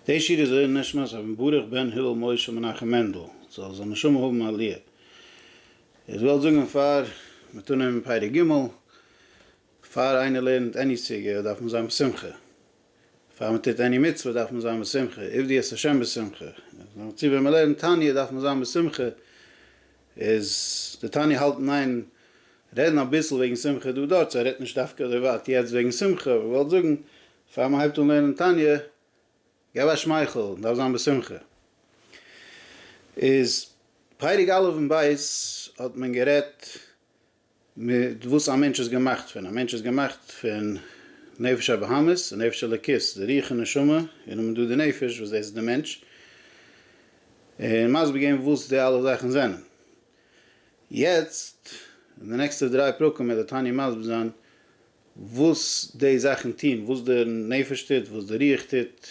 די שיר איז לעילוי נשמת אבן ברוך בן הלל משה מנחם מענדל זאל זיין נשמה האבן א ליה. איך וועל זאגן פאר מען טאר נעמען פרק ג' פאר איינער לערנט עני סוגיא דארף מען זיין בשמחה, פאר מען טוט עני מצוה דארף מען זיין בשמחה, עבדי את ה' בשמחה, נאר צו ווען מען לערנט תניא דארף מען זיין בשמחה, איז די תניא האלטן איין רעדן אביסל וועגן שמחה דא דארט, סא רעדט נישט דווקא אזוי ווייט יעצט וועגן שמחה, אבער איך וועל זאגן פאר מ'הייבט אן לערנען תניא, געב א שמייכל, מ'דארף זיין בשמחה. איז פרק א' און ב' האט מען גערעדט מיט וואס א מענטש איז געמאכט פון, א מענטש איז געמאכט פון נפש הבהמית און נפש אלוקית, די רוח און נשמה, און נאכדעם איז דא די נפש וואס דאס איז די מענטש, און מסביר געווען וואס די אלע זאכן זענען. יעצט אין די נעקסטע דריי פרקים וועט דער תניא מסביר זיין וואס די זאכן טוהן, וואס די נפש טוט, וואס די רוח טוט,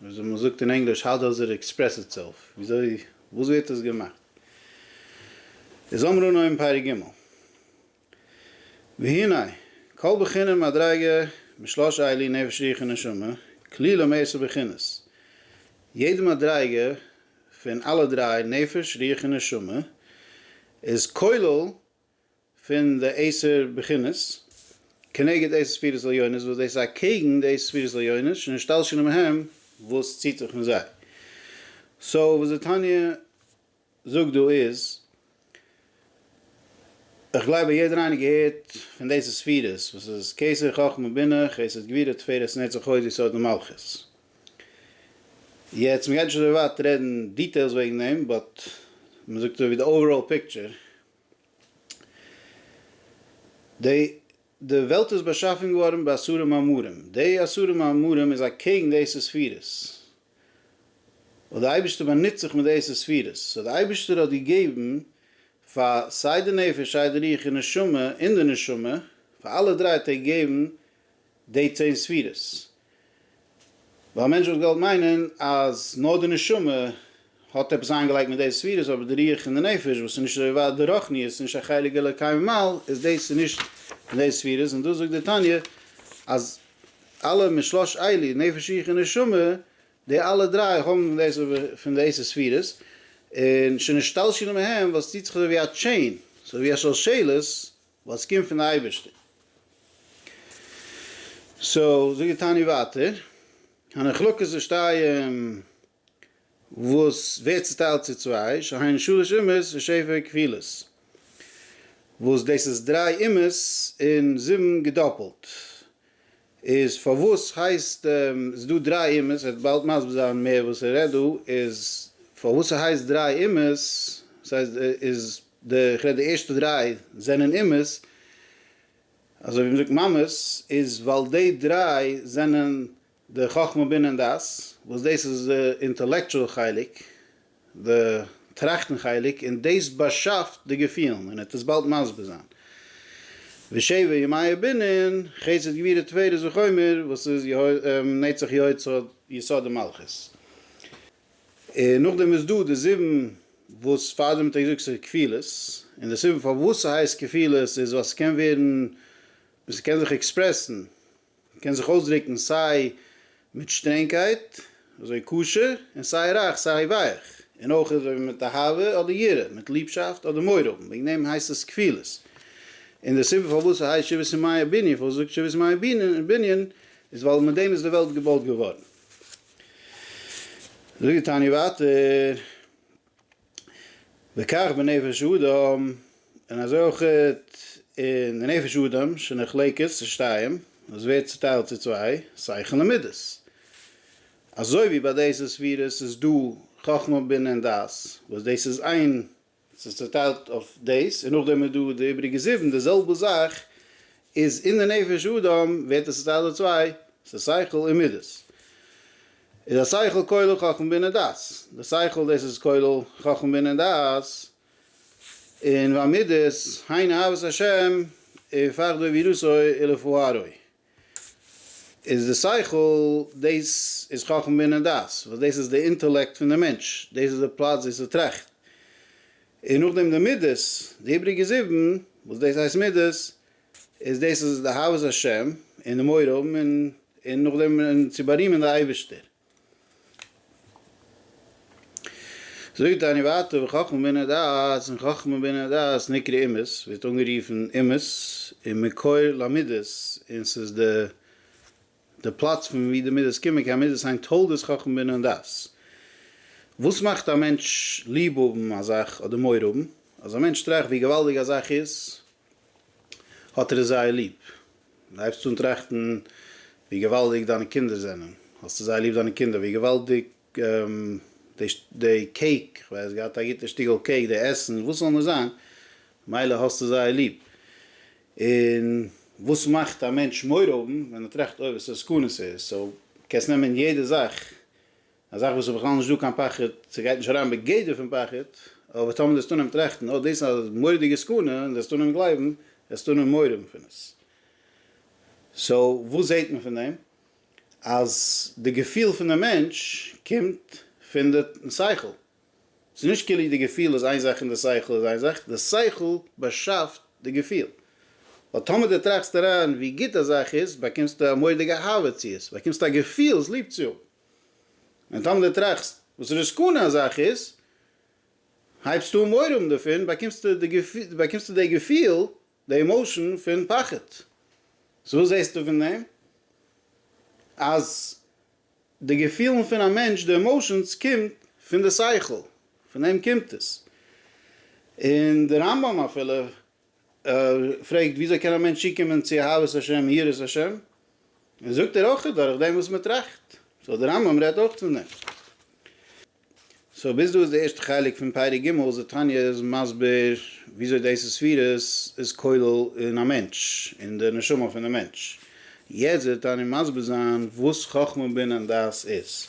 וויאזוי מען זאגט אין ענגליש האו דאז איט עקספרעס איטסעלף, וויאזוי, וואס ווערט עס געמאכט. איז אמרו נא אין פרק ג' והנה, כל בחינה מדריגה משלוש אלה, נפש רוח און נשמה, כלילא מעשר בחינות, יעדע מדריגה פון אלע דריי, נפש, רוח און נשמה, איז כולל פון די עשר בחינות, כנגד עשר ספירות עליונות, וואס דאס איז אקעגן די עשר ספירות עליונות, שנשתלשלו מהם, וואס ציט זיך פון זיי. סאו וואס די תניא זאגט דא איז, איך גלייב אז יעדער איינער געהערט פון די עשר ספירות, וואס איז כסר, חכמה, בינה, חסד, גבירה, תפארת, נצח, הוד, יסוד און מלכות. יעצט מ'גייט נישט אזוי ווייט רעדן דיטעילס וועגן דעם, באט מ'זאגט אזויווי די אוועראל פיקטשער, די וועלט איז באשאפן געווארן בעשרה מאמרים, די עשרה מאמרים איז אקעגן די עשר ספירות, וואס די אייבערשטער באנוצט זיך מיט די עשר ספירות, סאו די אייבערשטער האט געגעבן פאר סיי די נפש סיי די רוח און נשמה, און די נשמה, פאר אלע דריי האט ער געגעבן די צען ספירות. ווייל א מענטש וואלט געוואלט מיינען אז נאר די נשמה האט עפעס איינגעלייגט מיט די ספירות, אבער די רוח און די נפש וואס איז נישט אזוי ווייט די רוחניות איז נישט א חלק אלוקי ממעל, איז דאס איז נישט פון די ספירות, און דאס זאגט די תניא אז אלע משלוש אלי, נפש רוח און נשמה, די אלע דריי האבן דאס פון די עשר ספירות, און שנשתלשלו מהם, וואס טוט זיך אזוי ווי א טשעין, אזוי ווי א שלשלת, ווייל עס קומט פון די אייבערשטער. סאו זאג די תענית ווייטער, הנחלקות ושתיים וואס ווערט צוטיילט צו צוויי, שהיינו שלש אומות ושבע כפילות, וואס דאס איז דריי אומות און זיבן געדאפלט, איז פארוואס הייסט עס דא דריי אומות, ער וועט באלד מסביר זיין מער וואס ער רעדט דא, איז פארוואס עס הייסט דריי אומות, דאס הייסט איז די איך רעד די ערשטע דריי זענען אומות, אזוי ווי מען זאגט ממות, איז ווייל די דריי זענען די חכמה בינה און דעת, וואס דאס איז די אינטעלעקטשועל חלק, די טראכטן חלק, און דאס באשאפט די געפילן, און ער וועט עס באלד מסביר זיין. ושבע ימי בנין, חסד גבירה תפארת וחומר, וואס איז נצח יסוד יסוד דמלכות. און נאכדעם איז דא די זיבן וואס פאר דעם האט ער געזאגט ס'איז כפילות, און די סיבה פארוואס ס'הייסט כפילות איז ווייל ס'קען ווערן, ס'קען זיך עקספרעסן, מען קען זיך אויסדרוקן סיי מיט שטרענגקייט, אזוי קשה, און סיי רייך, סיי ווייך, און אויך אזוי מיט אהבה אדער יראה, מיט ליבשאפט אדער מורא האבן, וועגן דעם הייסט עס כפילות. און די סיבה פארוואס ס'הייסט שבעת ימי הבנין, פארוואס מ'זאגט שבעת ימי הבנין, איז ווייל מיט דעם איז די וועלט געבויט געווארן. זאגט די תניא ווייטער. וכך בנפש האדם, און אזוי אויך אין די נפש האדם שנחלקת לשתיים, עס ווערט צוטיילט צו צוויי, שכל און מידות. אזוי ווי ביי דעיס ספירות איז דא חכמה בינה און דעת, וואס דאס איז איין, עס איז צוטיילט אויף דאס, און נאכדעם איז דא די איבריגע זיבן, די זעלבע זאך איז אין די נפש האדם, ווערט עס צוטיילט אויף צוויי, ס'איז שכל און מידות. איז א שכל כולל חכמה בינה דעת, די שכל דאס איז כולל חכמה בינה דעת, און והמידות היינו אהבת השם ופחדו ויראתו אילפו הארוי, איז די שכל דאס איז חכמה בינה דעת, וואס דאס איז די אינטעלעקט פון די מענטש, דאס איז די פלאץ וואו ס'טראכט, און נאכדעם די מידות, די איבריגע זיבן, וואס דאס הייסט מידות, איז דאס איז די אהבת השם און די מורא האבן און און נאכדעם צו בארימען די אייבערשטער. זאגט דער אני ואתה וחכמה בינה דעת, און חכמה בינה דעת נקרא אימת, ווערט אנגערופן אימת און מקור למידות, און ס'איז די די פלאץ פון ווי די מידות קומען, כעין מידות הן תולדות חכמה בינה און דעת. וואס מאכט א מענטש ליב האבן א זאך אדער מורא האבן? אז א מענטש טראכט ווי געוואלדיג א זאך איז, האט ער עס זייער ליב. און הייבסט אן טראכטן ווי געוואלדיג דיינע קינדער זענען, האסטו זייער ליב דיינע קינדער, ווי געוואלדיג די קעיק, איך ווייס, געהאט א גוטע שטיקל קעיק, די עסן, וואס זאל נאר זיין, מילא האסטו זייער ליב. און וואס מאכט א מענטש מורא האבן, ווען ער טראכט אוי וואסא סכנה ס'איז, סאו קענסט נעמען יעדע זאך א זאך וואס איז בכלל נישט דא קיין פחד, ס'גייט נישט אריין בגדר פון פחד, אבער טאמער דאס טאן אים טראכטן, אט דאס איז א מורא'דיגע סכנה, און דאס טאן אים גלייבן, דאס טאן אים מורם פון עס. סאו, וואס זעט מען פון דעם? אז די געפיל פון די מענטש קומט פון די שכל. ס'איז נישט כאילו די געפיל איז איין זאך און די שכל איז איין זאך, די שכל באשאפט די געפיל. ווייל טאמער דו טראכסט אריין ווי גוט א זאך איז, באקומסטו א מורא'דיגע אהבה צו עס, באקומסטו א געפיל עס ליב צו האבן. און טאמער דו טראכסט וואס ר' סקנה א זאך איז, הייבסטו אן מורא האבן דערפון, באקומסטו די געפיל, באקומסטו די געפיל, די עמאושען פון פחד. סאו וואס זעסטו פון דעם? אז די געפילן פון א מענטש, די עמאושענס, קומט פון די שכל, פון דעם קומט עס. און דער רמב ם אפילו ער פרעגט וויאזוי קען א מענטש צוקומען צו אהבת השם און יראת השם, און זאגט ער אויך דורך דעם וואס מען טראכט, סאו דער רמב ם רעדט אויך פון דעם. סאו ביז דא איז די ערשטע חלק פון פרק ג' וואס די תניא איז מסביר וויאזוי דאס ספירות איז כולל אין א מענטש, אין די נשמה פון די מענטש. יעצט וועט די תניא מסביר זיין וואס חכמה בינה און דעת איז.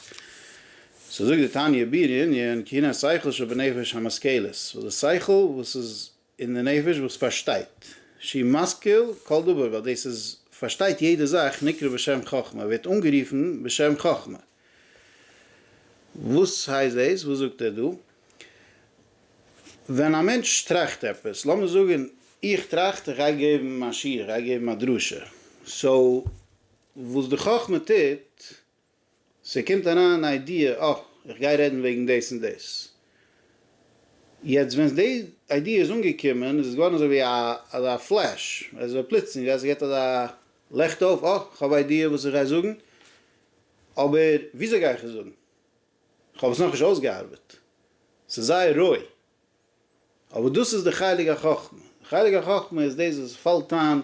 סאו זאגט די תניא בעיר ענין קנאת שכל שבנפש המשכלת, וואס די שכל וואס איז און די נפש וואס פארשטייט, שהיא משכיל כל דבר, ווייל דאס איז פארשטייט יעדע זאך, נקרא בשם חכמה, ווערט אנגערופן בשם חכמה. וואס הייסט דאס? וואס זאגט ער דא? ווען א מענטש טראכט עפעס, לאמיר זאגן איך טראכט איך גיי געבן א שיעור, איך גיי געבן א דרשה, סאו וואס די חכמה טוט, ס'קומט אריין אן איידיע, אה, איך גיי רעדן וועגן דאס און דאס. יעצט ווען די איידיע איז אנגעקומען, איז עס געווארן אזוי ווי אזא פלעש, אזוי פלוצלינג, אז עס געט אזא לעכט אויף, אה, איך האב א איידיע וואס איך גיי זאגן, אבער וויאזוי גיי איך עס זאגן? איך האב עס נאכנישט אויסגעארבעט. ס'איז זייער רוי, אבער דאס איז די חלק החכמה, די חלק החכמה איז דאס וואס פאלט איין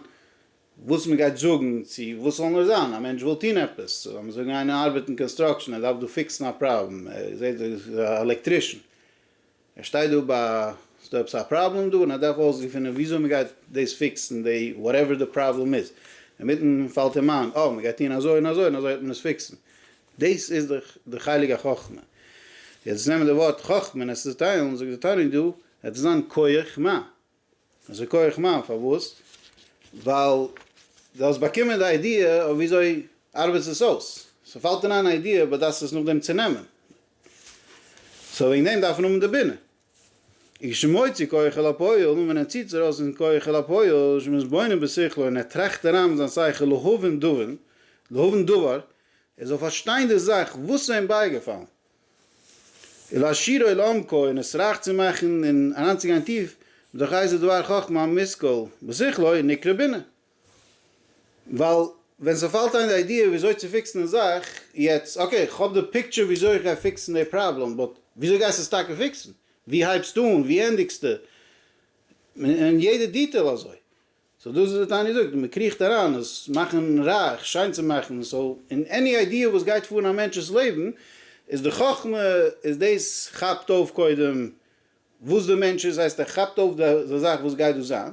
וואס מען גייט זאגן צו וואס ס'זאל נאר זיין, א מענטש וויל טון עפעס, לאמיר זאגן איינער ארבעט אין קאנסטראקשען ער דארף דא פיקסן א פראבלעם, ער זעט דא איז א עלעקטרישען, ער שטייט דא ביי ס'דא עפעס א פראבלעם דא און ער דארף אויסגעפינען וויאזוי מען גייט דאס פיקסן די וואטעווער די פראבלעם איז, אינמיטן פאלט אים איין, אה מען גייט טון אזוי און אזוי און אזוי וועט מען עס פיקסן, דאס איז דאך די חלק החכמה. יעצט נעמען די ווארט חכמה און עס צוטיילן, זאגט די תניא דא, עס איז אן כח מה. עס איז כח מה פארוואס? ווייל דו האסט באקומען די איידיע אויף ווי אזוי ארבעט עס אויס. סאו פאלט דיר איין א איידיע, באדארפסט עס נאכדעם צונעמען. סאו וועגן דעם דארף מען האבן די בינה. אי שמוציא כח אל הפועל, און ווען ער ציט עס ארויס אין כח אל הפועל, שמתבונן בשכלו, און ער טראכט אריין מיט זיין שכל, להבין דבין, להבין דבר, ער זאל פארשטיין די זאך וואס איז אים בייגעפאלן, ולהשירו לעומקו, און עס רייך צו מאכן און אריינצוגיין טיף, מתוך איזה דבר חכמה המושכל בשכלו נקרא בינה. ווייל ווען ס'פאלט איין די איידיע וויאזוי צו פיקסן די זאך, יעצט אקעי כ'האב די פיקטשער וויאזוי איך גיי פיקסן די פראבלעם, באט וויאזוי גייסטו עס טאקע פיקסן? ווי הייבסטו אן? ווי ענדיגסטו? און יעדע דיטעל אזוי. סאו דאס איז וואס טאני זאגט, מען קריכט אריין עס מאכן רייך, שיין צו מאכן, סאו אין עני איידיע וואס גייט פאר אין א מענטש'ס לעבן, איז די חכמה איז דאס כאפט אויף קודם וואס די מענטש איז, הייסט ער כאפט אויף די זאך וואס גייט דא זיין,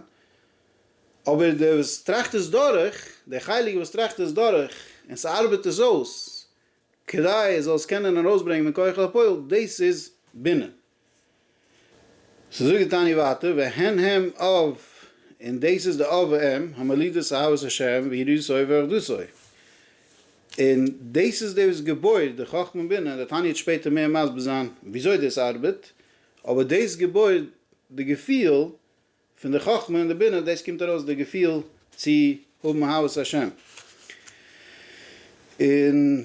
אבער דער וואס טראכט עס דורך, דער חלק וואס טראכט עס דורך און ס'ארבעט עס אויס כדי ער זאל עס קענען ארויסברענגען מכח אל הפועל, דאס איז בינה. ס'זאגט די תניא ווייטער, והן הם אב, און דאס איז די אב ואם, המולידות אהבת השם ויראתו ואחדותו. און דאס איז דאס וואס געבוירט די חכמה און בינה, דער תניא וועט שפעטער מער מסביר זיין וויאזוי דאס ארבעט, אבער דאס געבוירט די געפיל, פון די חכמה און די בינה, דאס קומט ארויס די געפיל צו האבן אהבת השם. און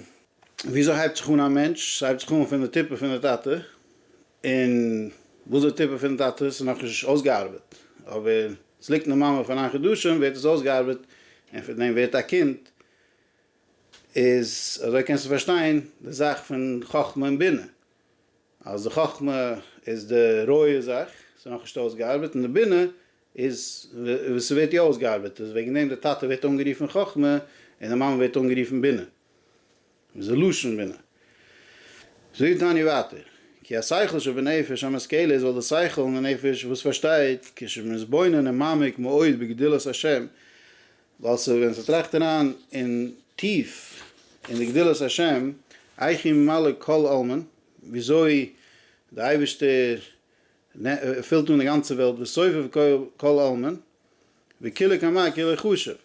ווי אזוי הייבט זיך אן א מענטש? ס'הייבט זיך אן פון די טיפה פון די טאטע, און וואס די טיפה פון די טאטע איז איז נאכנישט אויסגעארבעט, אבער ס'ליגט אין די מאמע פאר נײַן חדשים ווערט עס אויסגעארבעט, און פון דעם ווערט א קינד, איז אזוי קענסטו פארשטיין די זאך פון חכמה און בינה. אז די חכמה איז די רויע זאך, ס'איז נאכנישט אויסגעארבעט, און די בינה איז וואס ס'ווערט יא אויסגעארבעט, איז וועגן דעם די טאטע ווערט אנגערופן חכמה, און די מאמע ווערט אנגערופן בינה, וואס איז לשון בינה. זאגט תניא ווייטער, כי השכל שבנפש המשכלת, ווייל די שכל אין די נפש וואס פארשטייט, כשמתבונן מעמיק מאוד בגדולת השם, ווייל ס'ווען מען טראכט אריין אין טיף אין די גדולת השם, אייכי ממלא כל עלמין, וויאזוי די אייבערשטער פילט אן די גאנצע וועלט, וסובב כל עלמין, וכולו כמה כולו חשוב.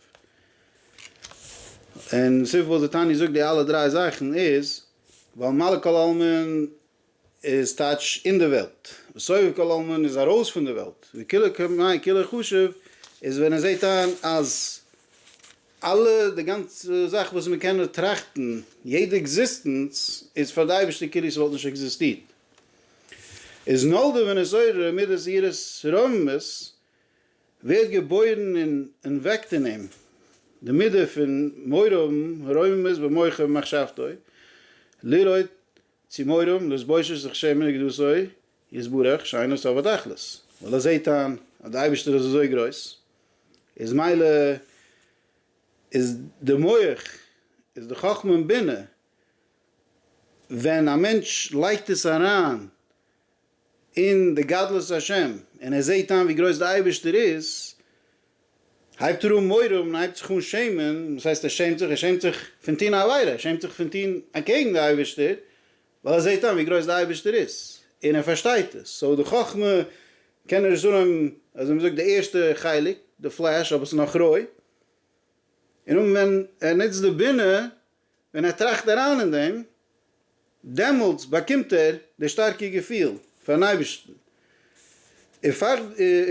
און סיבה פארוואס די תניא זאגט די אלע דריי זאכן איז, ווייל ממלא כל עלמין איז טייטש אין די וועלט, וסובב כל עלמין איז ארויס פון די וועלט, וכולו כמאי כולו חשוב איז ווען ער זעט איין אז אלע די גאנצע זאך וואס מען קען נאר טראכטן, יעדע עקזיסטענץ איז פאר די אייבערשטער כאילו ס'וואלט נישט עקזיסטירט. איז נולדה ונוצרה מידת יראת רוממות ווערט געבוירן און און וועקט אין אים די מידה פון מורא האבן רוממות במוחו ובמחשבתו לראות צו מורם לס בושה זיך שעמען איז געדאס אוי יתברך שאין עס אבד תכלית, ווייל ער זעהט איין אז די אייבישטער איז אזוי גרויס, איז מילא איז די מח איז די חכמה און בינה, ווען א מענטש לייגט עס אריין אין די גדלות השם, און ער זעהט איין ווי גרויס די אייבערשטער איז, הייבט ער אן מורא האבן, הייבט זיך אן שעמען, וואס הייסט ער שעמט זיך, ער שעמט זיך פון טון א עבירה, ער שעמט זיך פון טון אקעגן די אייבערשטער, ווייל ער זעהט איין ווי גרויס די אייבערשטער איז, און ער פארשטייט עס, סאו די חכמה קען ער עס אנהויבן, אזוי ווי מ'זאגט די ערשטע חלק, די פלעש אבער ס'איז נאך רוי, און אן ווען ער נוצט די בינה, ווען ער טראכט אריין אין דעם, דעמאלטס באקומט ער די שטארקע געפיל פארן אייבערשטן,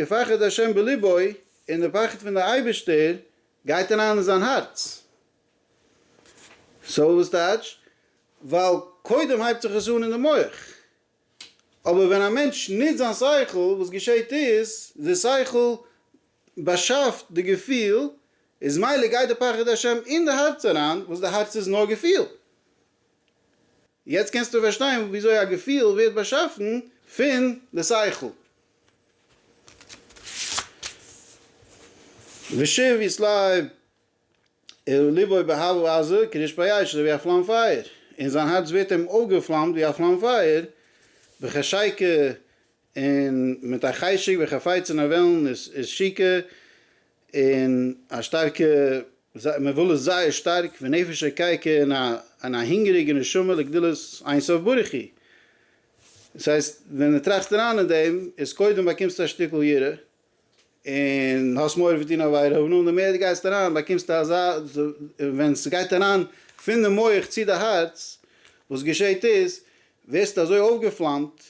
ופחד ה' בלבו, און די פחד פון די אייבערשטער גייט אריין אין זיין הארץ. סאו וואס טייטש? ווייל קודם הייבט זיך עס אן אין די מח, אבער ווען א מענטש נוצט זיין שכל, וואס געשעט איז, די שכל, באשאפט די געפיל, איז מילא גייט די פחד השם אין די הארץ אריין, וואס די הארץ איז נאר געפיל. יעצט קענסטו פארשטיין וויאזוי א געפיל ווערט באשאפן פון די שכל. ושב יס לב אל לבו באהבה עזה כרשפי אש אזוי ווי א פלאם פייער, און זיין הארץ ווערט אים אויפגעפלאמט ווי א פלאם פייער, בחשיקה און מיט א חשק ווי חפץ און א וועלן איז איז שיקה און א שטארקע זיי מען וויל עס זייער שטארק ונפש ריקייק און א און א הונגעריגע נשמה לגדולת אין סוף ברוך הוא. דאס הייסט ווען מען טראכט אריין אין דעם איז קודם באקומסטו א שטיקל יראה און האסט מורא פון טון עבירה, און די מער די גייסט אריין באקומסטו אזא, ווען ס'גייט אריין פון די מח צו די הארץ, וואס געשעהט איז, ווערסטו אזוי אויפגעפלאמט,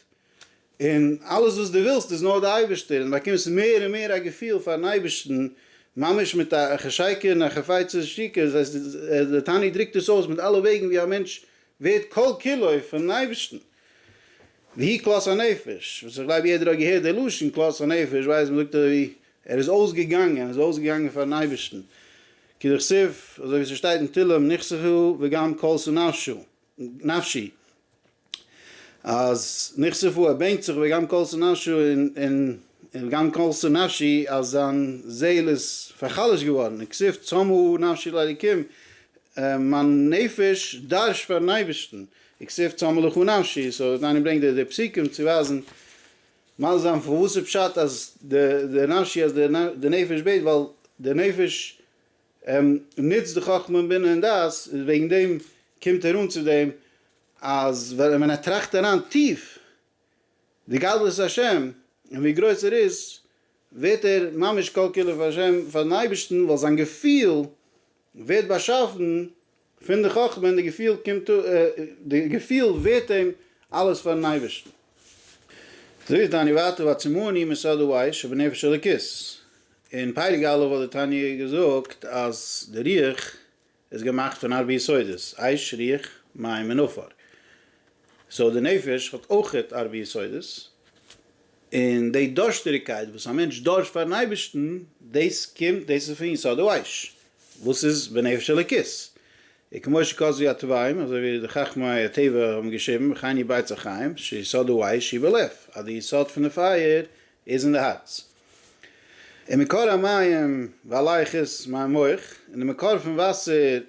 און אלעס וואס דו ווילסט איז נאר די אייבערשטער, און באקומסט מער און מער א געפיל פארן אייבערשטן, ממש מיט א חשיקה און א חפצי שתיקה, דאס הייסט דער תניא דרוקט עס אויס מיט אלע וועגן ווי א מענטש ווערט כל כולו פונעם אייבערשטן. והיא כלות הנפש, וואס איך גלייב יעדער האט געהערט די לשון כלות הנפש, ווייסט מ'זאגט אזויווי ער איז אויסגעגאנגען, ער איז אויסגעגאנגען פארן אייבערשטן, כדכתוב, אזויווי ס'שטייט אין תהלים נכסהו וגם כלתו נפשו, נפשי, אז נכסהו ער בענקט זיך וגם כלתו נפשו און וגם כלתו נפשי אז זיין זעהל איז פארחלש'ט געווארן, און כסוף צמאה נפשי לאלוקים, מיין נפש דארשט פארן אייבערשטן, וכסיף צמא לך נפשי, סאו אז איינער ברענגט די פסוקים צו ווייזן מסביר זיין פון וואס איז פשט אז די נפשי אז די נפש בעט ווייל די נפש נוצט די חכמה און בינה און דעת איז וועגן דעם קומט ער אן צו דעם אז ווען ער טראכט אריין טיף די גדלות השם און ווי גרויס ער איז, ווערט ער ממש כל כולו פאר השם, פאר'ן אייבערשטן, ווייל זיין געפיל ווערט באשאפן פון די חכמה, און די געפיל קומט די געפיל ווערט אים אלעס פאר'ן אייבערשטן. זאגט די תניא ווייטער ועצמו אני מיסודו ויש שבנפש אלוקית, אין פרק א' האט די תניא געזאגט אז די רוח איז געמאכט פון ארבע יסודות, אש, רוח, מים און עפר. סאו די נפש האט אויכעט ארבע יסודות, און די דארשטעריגקייט וואס א מענטש דארשט פארן אייבערשטן, דאס קומט, דאס איז פון יסוד האש, וואס איז בנפש אלוקית. וכמו שכתבו הטבעים, אזוי ווי די חכמי הטבע האבן געשריבן, וכן היא בית החיים, שיסודו אש היא בלב, אז די יסוד פון די פייער איז אין די הארץ. און מקור המים והלייך איז מיין מח, און די מקור פון וואסער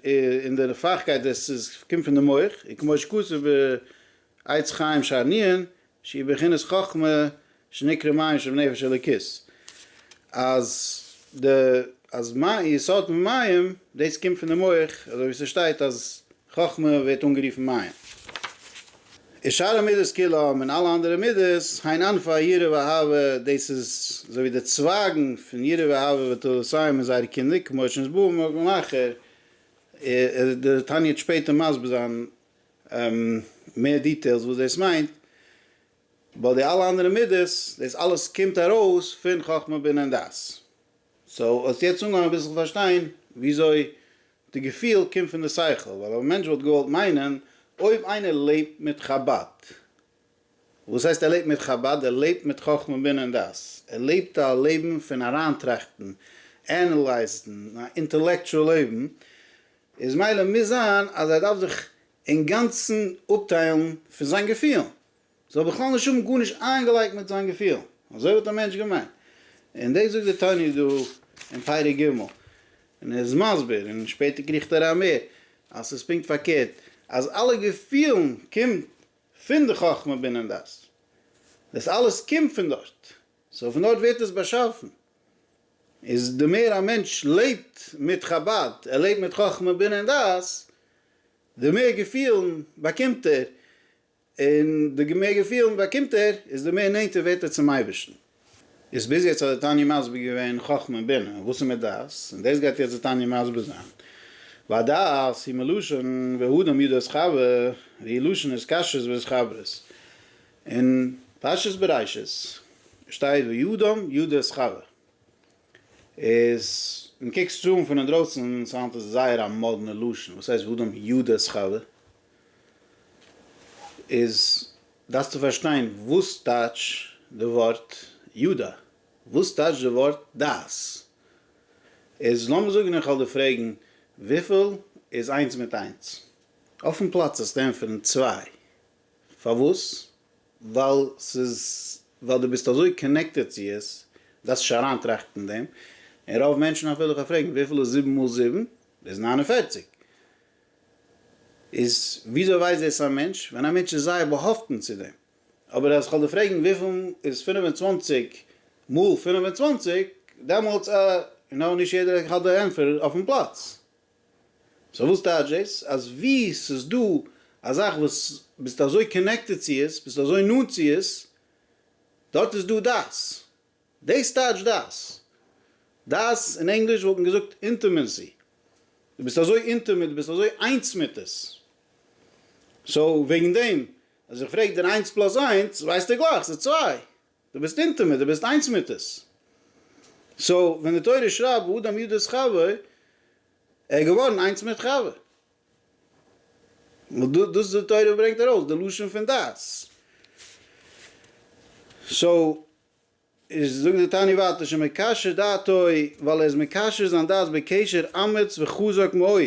און די נפחקייט דאס איז קומט פון די מח, און כמו שכתוב בעץ חיים שארנין שהיא בחינת חכמה שנקרא מים שבנפש אלוקית אז די אז מים יסוד פון מים דאס קומט פון די מח אזוי ווי ס'שטייט אז חכמה ווערט אנגערופן מים. און שאר המידות כולם און אלע אנדערע מידות הייען ענף היראה ואהבה, דאס איז אזוי ווי די צווייגן פון יראה ואהבה ותורת ה' און זייערע קינדער, כמו שנז ב ומקום אחר, די תניא וועט שפעטער מסביר זיין מער דיטעילס וואס דאס מיינט, ווייל די אלע אנדערע מידות דאס אלעס קומט ארויס פון חכמה בינה און דעת, סאו האסט יעצט אנגעהויבן אביסל פארשטיין וויאזוי די געפיל קומט פון די שכל, ווייל אויב א מענטש וואלט געוואלט מיינען, אויב איינער לעבט מיט חבד, וואס הייסט ער לעבט מיט חבד? ער לעבט מיט חכמה בינה און דעת, ער לעבט א לעבן פון אריינטראכטן, ענעלייזן, א אינטעלעקטשועל לעבן, איז מילא מוז זיין אז ער דארף זיך אינגאנצן אפטיילן פון זיין געפילן, זאל בכלל נישט האבן גארנישט איינגעלייגט מיט זיין געפיל, אזוי האט דער מענטש געמיינט, און דאס זאגט דער תניא דא אין פרק ג', און ער איז מסביר, און שפעטער קריכט אריין מער, אז ס'איז פונקט פארקערט, אז אלע געפילן קומט פון די חכמה בינה און דעת, דאס אלעס קומט פון דארט, סאו פון דארט ווערט עס באשאפן, איז די מער א מענטש לעבט מיט חבד, ער לעבט מיט חכמה בינה און דעת, די מער געפילן באקומט ער, און די גע מער געפיל מען באקומט ער איז די מער נענטער ווערט ער צום אייבערשטן. איז ביז יעצט האט די תניא מסביר געווען חכמה און בינה וואס איז מיט דעת, און דאס גייט יעצט די תניא מסביר זיין, והדעת היא מלשון והאדם יודע את חבר והיא לשון התקשרות ואת חברות, אין פרשת בראשית שטייט והאדם יודע את חבר, איז ווען קוקסט עס אן פון אינדרויסן צו היינט איז עס זייער א מאדנע לשון, וואס הייסט והאדם יודע את חבר? איז דארפסטו פארשטיין וואס טייטש די ווארט יודע, וואס טייטש די ווארט דעת. איז לאמיר זאגן איך וועל דיר פרעגן וויפיל איז איינס מיט איינס? אויפן פלאץ זאלסטו ענטפערן צוויי. פארוואס? ווייל ס'איז ווייל דו ביסט אזוי קאנעקטעד צו עס, דארפסט נישט אריינטראכטן אין דעם. און רוב מענטשן אפילו איך וועל פרעגן וויפיל איז זיבן מאל זיבן? איז ניין און פערציג. איז וויאזוי ווייסט דאס א מענטש? ווען א מענטש איז זייער באהאפטן צו דעם. אבער אז כ'וועל דיר פרעגן וויפיל איז פֿינף און צוואַנציק מאל פֿינף און צוואַנציק, דעמאלטס אה, יו נאו, נישט יעדער האט די ענטפער אויפן פלאץ. סאו וואס טייטש דאס? אז ווי ס'איז דא א זאך וואס ביסטו אזוי קאנעקטעד צו עס, ביסטו אזוי נאנט צו עס, דארט איז דא דאס. דאס טייטשט דאס. דאס אין ענגליש וואלט מען געזאגט אינטימעסי. דו ביסט אזוי אינטימעט, דו ביסט אזוי איינס מיט עס. סאו וועגן דעם אז איך פרעג דיר איינס פלאס איינס ווייסטו גלייך ס'איז צוויי. דו ביסט אינטימעט, דו ביסט איינס מיט עס. סאו ווען די תורה שרייבט ואדם יודע את חבר, ער איז געווארן איינס מיט חבר. ווייל דאס די תורה ברענגט ארויס די לשון פון דעת. סאו איז זאגט די תניא ווייטער שמקשר דעתו ווייל ער איז מקשר זיין דעת בקשר אמיץ וחזק מאוד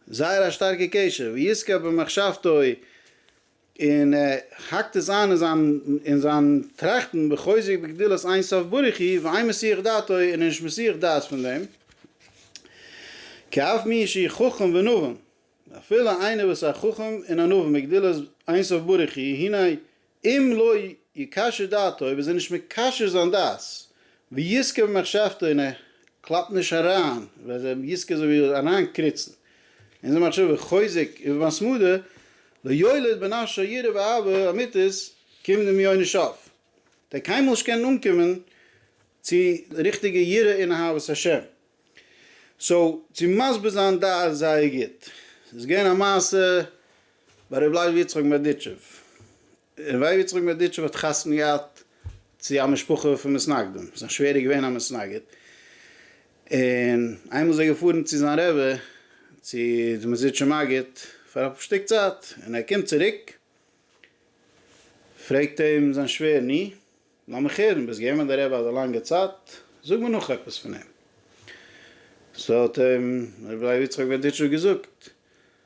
זייער א שטארקע קשר ויזכה במחשבתו און ער האקט עס איין אין זיין טראכטן וחוזק בגדולת אין סוף ברוך הוא ואין מסיח דעתו און נישט מסיח דעת פון דעם, כאף מי שהיא חכם ונבון, אפילו איינער וואס איז א חכם און א נבון בגדולת אין סוף ברוך הוא, הנה אם לא יקשר דעתו אויב איז ער נישט מקשר זיין דעת ויזכה במחשבתו און ער קלאפט נישט אריין ווען ער יזכה אזוי ווי אריין קריצן אין זיין מחשבה וחוזק ובהתמדה לא יולד בן אשה יראה ואהבה אמיתית קומט דעם יונה נישט אויף. דער קיינמאל נישט קענען אנקומען צו ריכטיגע יראה און אהבת השם. סאו צו מסביר זיין דעת איז זייער גוט. ס'איז געווען א מעשה ביי ר' לייב יצחק מברדיטשוב. און ר' יצחק מדיטשוב האט חתונה געהאט צו א משפחה פון מתנגדים, זיין שווער איז געווען א מתנגד, און איינמאל איז ער געפארן צו זיין רבי צו די מזידשע מגיד פאר א שטיק צייט, און ער קומט צוריק, פרעגט אים זיין שווער ני, לאמיך הערן, ביסט געווען ביי די רבי אזא לאנגע צייט, זאג מיר נאך עפעס פון אים, סא האט אים ר' יצחק מדיטשוב געזאגט,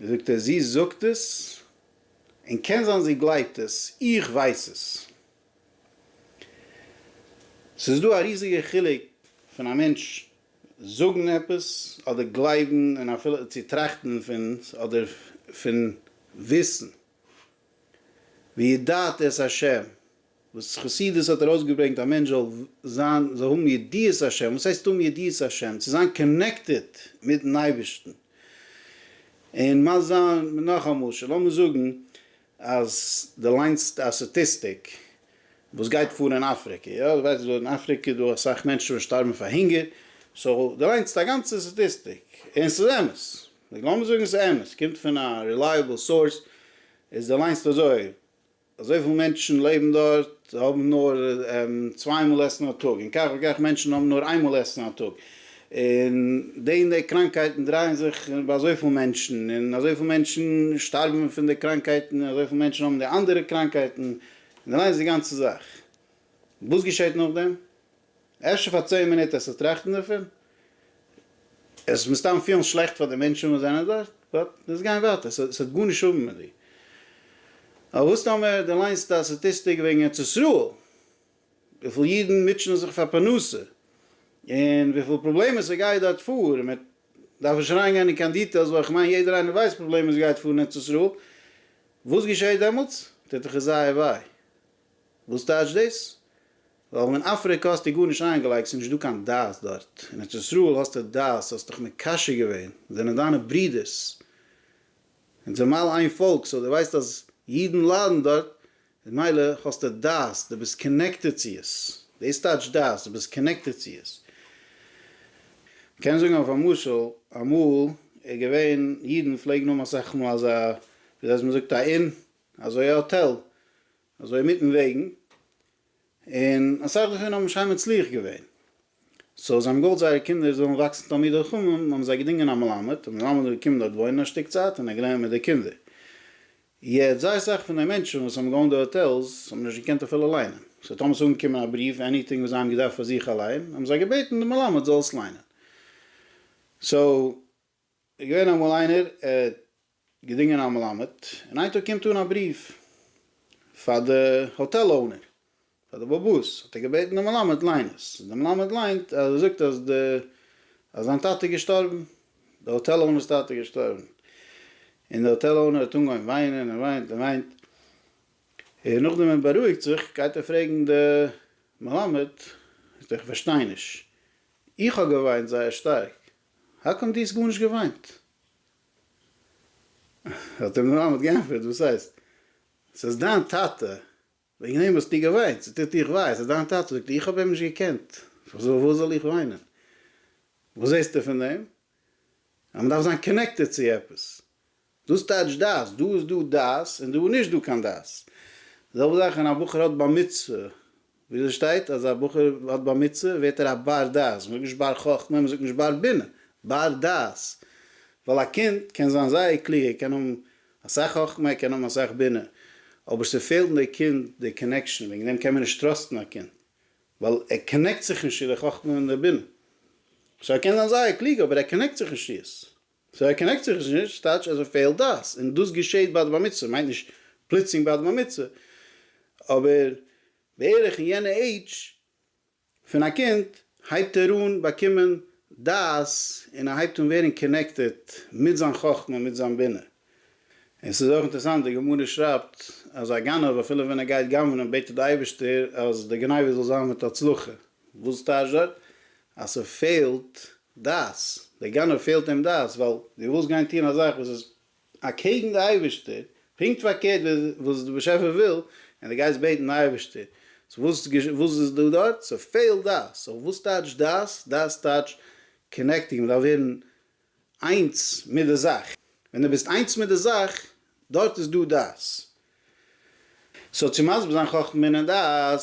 זאגט ער זי זאגט עס, און קען זיין זי גלייבט עס, איך ווייס עס. ס'איז דא א ריזיגע חילוק פון א מענטש זאגן עפעס, אדער גלייבן, און אפילו צו טראכטן פון עס, אדער פון וויסן. וידעת את השם, וואס חסידות האט ארויסגעברענגט א מענטש זאל זיין זאל האבן ידיעת השם, וואס הייסט האבן ידיעת השם? צו זיין קאנעקטעד מיטן אייבערשטן, און מה זיין נאך א משל, לאמיר זאגן אז די ליינסט א סטאטיסטיק וואס גייט פאר אין אפריקע, יא די ווייסט אז אין אפריקע איז דא אסאך מענטשן וואס שטארבן פאר הונגער, סאו די ליינסט א גאנצע סטאטיסטיק, און ס'איז אמת. נו לאמיר זאגן עס איז אמת, עס קומט פון א רילייעבל סאורס, איז די ליינסט אזוי, אזויפיל מענטשן לעבן דארט, זיי האבן נאר צוויי מאל עסן א טאג, און כך וכך מענטשן האבן נאר איין מאל עסן א טאג, און די און די קראנקייטן דרייען זיך ביי אזויפיל מענטשן, און אזויפיל מענטשן שטארבן פון די קראנקייטן, און אזויפיל מענטשן האבן די אנדערע קראנקייטן, און די ליינסט די גאנצע זאך, וואס געשעט נאכדעם? אפשר פאר צען מינוט עס צו טראכטן דערפון, עס וועט מסתם פילן שלעכט פאר די מענטשן וואס זענען דארט, באט לאמיר גיין ווייטער, עס האט גארנישט האבן מיט דיר. אבער וואס טאמער דו ליינסט א סטאטיסטיק וועגן ארץ ישראל, וויפיל אידן מוטשענען זיך פאר פרנסה, און וויפיל פראבלעמען ס'גייט דארט פאר, און מען דארף נישט אריינגיין אין קיין דיטעילס ווייל איך מיין יעדער איינער ווייסט די פראבלעמען וואס גייט פאר אין ארץ ישראל, וואס געשעט דעמאלטס? טוט דיך עס זייער וויי. וואס טייטשט דאס? ווייל אין אפריקא האסטו גארנישט איינגעלייגט ס'איז נישט דא קיין דת דארט, אין ארץ ישראל האסטו דת, האסט דיך מקשר געווען, זענען דיינע ברודערס, אונז זענען מילא איין פאלק, סאו דו ווייסט אז אידן ליידן דארט, איז מילא האסטו דת, דו ביסט קאנעקטעד צו עס, דאס טייטש דת, דו ביסט קאנעקטעד צו עס. מ'קען זאגן אויף א משל, אמאל איז געווען, אידן פלעגן האבן אסאך מאל אזא, ווי זיי מ'זאגט א און, אזוי א האטעל, אזוי אינמיטן וועגן, און אסאך דערפון האבן שיין מצליח געווען, סאו זיי האבן געוואלט זייערע קינדער זאלן וואקסן תלמידי חכמים, האבן זיי געדינגען א מלמד, דער מלמד האט געקומען דארט וואוינען א שטיק צייט און ער האט געלערנט מיט די קינדער. יעצט זייער סאך פון די מענטשן וואס האבן געאונט די האטעלס האבן נישט געקענט אפילו ליינען, סאו טאמער עס איז אנגעקומען א בריוו עניטינג וואס זיי האבן געדארפט פאר זיך אליין, האבן זיי געבעטן די מלמד זאל עס ליינען. סאו. איז געווען אמאל איינער, ער האט געדינגען א מלמד, און איין טאג קומט אן א בריוו פאר די האטעל אונער, פאר די באבוס, האט ער געבעטן די מלמד ליין עס, די מלמד ליינט אז ער זאגט אז די אז זיין טאטע איז געשטארבן, די האטעל אונער'ס טאטע איז געשטארבן, און די האטעל אונער האט אנגעהויבן וויינען און וויינט און וויינט, און נאכדעם ער בארואיגט זיך גייט ער פרעגן די מלמד, זאגט ער איך פארשטיי נישט, איך האב געוויינט זייער שטארק, האקאם דו האסט גארנישט געוויינט? האט אים די מאמע האט געענטפערט, וואס הייסט? ס'איז דיין טאטע, וועגן אים האסטו געוויינט, ס'טוט דיך וויי, ס'איז דיין טאטע, זאגט איך האב אים נישט געקענט, פארוואס זאל איך וויינען? וואס זעסטו פון דעם? אז מ'דארף זיין קאנעקטעד צו עפעס, דאס טייטש דעת, דא איז דא דעת און דא איז נישט דא קיין דעת. די זעלבע זאך ווען א בחור האט בר מצוה, וויאזוי שטייט אז א בחור האט בר מצוה ווערט ער א בר דעת, מ'זאגט נישט בר חכמה, מ'זאגט נישט בר בינה, בר דעת, ווייל א קינד קען זיין זייער קלוג, ער קען האבן אסאך חכמה, ער קען האבן אסאך בינה, אבער ס'פעלט אין די קינד די קאנעקשאן, וועגן דעם קען מען נישט טראסטן א קינד, ווייל ער קאנעקט זיך נישט צו די חכמה און די בינה, סאו ער קען זיין זייער קלוג אבער ער קאנעקט זיך נישט צו עס. סאו ער קאנעקט זיך נישט נישט טייטש אז ער פעלט דעת, און דאס געשעהט ביי די בר מצוה, מיינט נישט פלוצלינג ביי די בר מצוה, אבער בערך אין יענע עידזש פון א קינד הייבט ער אן באקומען דעת און ער הייבט אן ווערן קאנעקטעד מיט זיין חכמה מיט זיין בינה, און ס'איז אויך אינטערעסאנט די גמרא שרייבט אז א גנב אפילו ווען ער גייט גנב'נען בעט ער די אייבערשטער אז די גניבה זאל זיין מיט הצלחה, וואס טאזשע? אז ס'פעלט דעת, דער גנב פעלט אים דעת, ווייל דו ווילסט גיין טון א זאך וואס איז אקעגן די אייבערשטער, פונקט פארקערט ווי וואס די באשעפער וויל, און דו גייסט בעטן די אייבערשטער, סאו וואס וואס איז דא דארט? ס'פעלט דעת, סאו וואס טייטש דעת? דעת טייטש קאנעקטינג, מ'דארף ווערן איינס מיט די זאך. ווען דו ביסט איינס מיט די זאך, דארט איז דא דעת. סאו צו מסביר זיין חכמה און דעת,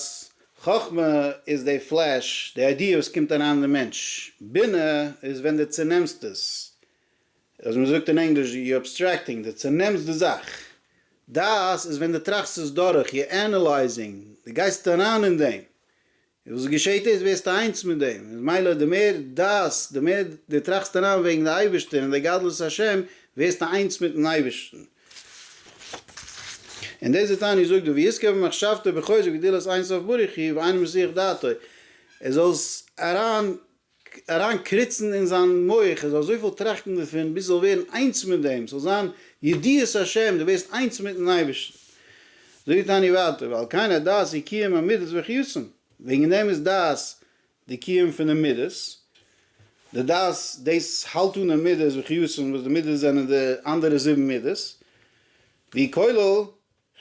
חכמה איז די פלעש, די איידיע וואס קומט אריין אין די מענטש, בינה איז ווען דו צענעמסט עס, אז מען זאגט אין ענגליש יו אבסטרעקטינג, דו צענעמסט די זאך. דעת איז ווען דו טראכסט עס דורך, יו ענעלייזינג, דו גייסט אריין אין דעם, און וואס געשעהט איז ווערסטו איינס מיט דעם, איז מילא די מער דאס, די מער די טראכסט אריין וועגן די אייבערשטער און די גדלות השם, ווערסטו איינס מיטן אייבערשטן. און דאס איז תענית זאגט דא ויזכה במחשבתו בחוזק וגדילת אין סוף ברוך הוא ואינו מסיח דעתו, ער זאל אריין אריין קריצן אין זיין מח ער זאל אזויפיל טראכטן דערפון ביז ער זאל ווערן איינס מיט דעם ס'זאל זיין ידיעת השם דו ווערסט איינס מיטן אייבערשטן. זאגט תניא ווייטער ועל כן הדעת היא קיום המידות וחיותן וועגן דעם איז דעת די קיום פון די מידות די דעת דאס האלט אן די מידות וחיותן וואס די מידות זענען די אנדערע זיבן מידות ווי כולל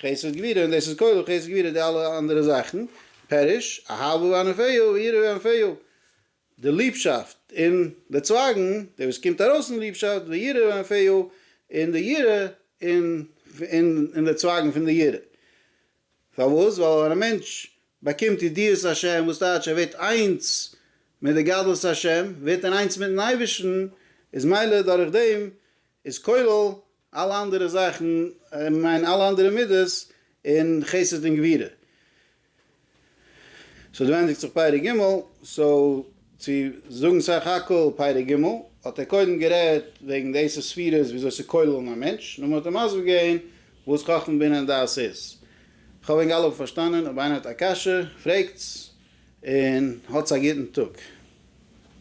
חסד גבירה און דאס איז כולל חסד גבירה די אלע אנדערע זאכן, פירוש, אהבה וענווה ויראה וענווה, די ליבשאפט און די צווייגן, די וואס קומט ארויס אין ליבשאפט, ויראה וענווה, און די יראה און די צווייגן פון די יראה. פארוואס? ווייל ווען א מענטש באקומט ידיעת השם, וואס טייטש ער ווערט איינס מיט די גדלות השם, ווערט ער איינס מיטן אייבערשטן, איז מילא דורך דעם איז כולל אלע אנדערע זאכן, איך מיין אלע אנדערע מידות און חסד און גבירה. סאו דא ענדיגט זיך פרק ג', סאו צו זאגן סך הכל פרק ג' האט ער קודם גערעדט וועגן די עשר ספירות וויאזוי צו כולל'ן א מענטש, נאכדעם האט ער מסביר געווען וואס חכמה בינה און דעת איז. כ'האף ענק אלע האבן פארשטאנען, אויב איינער האט א קשיא פרעגטס און האטס א גוטן טאג.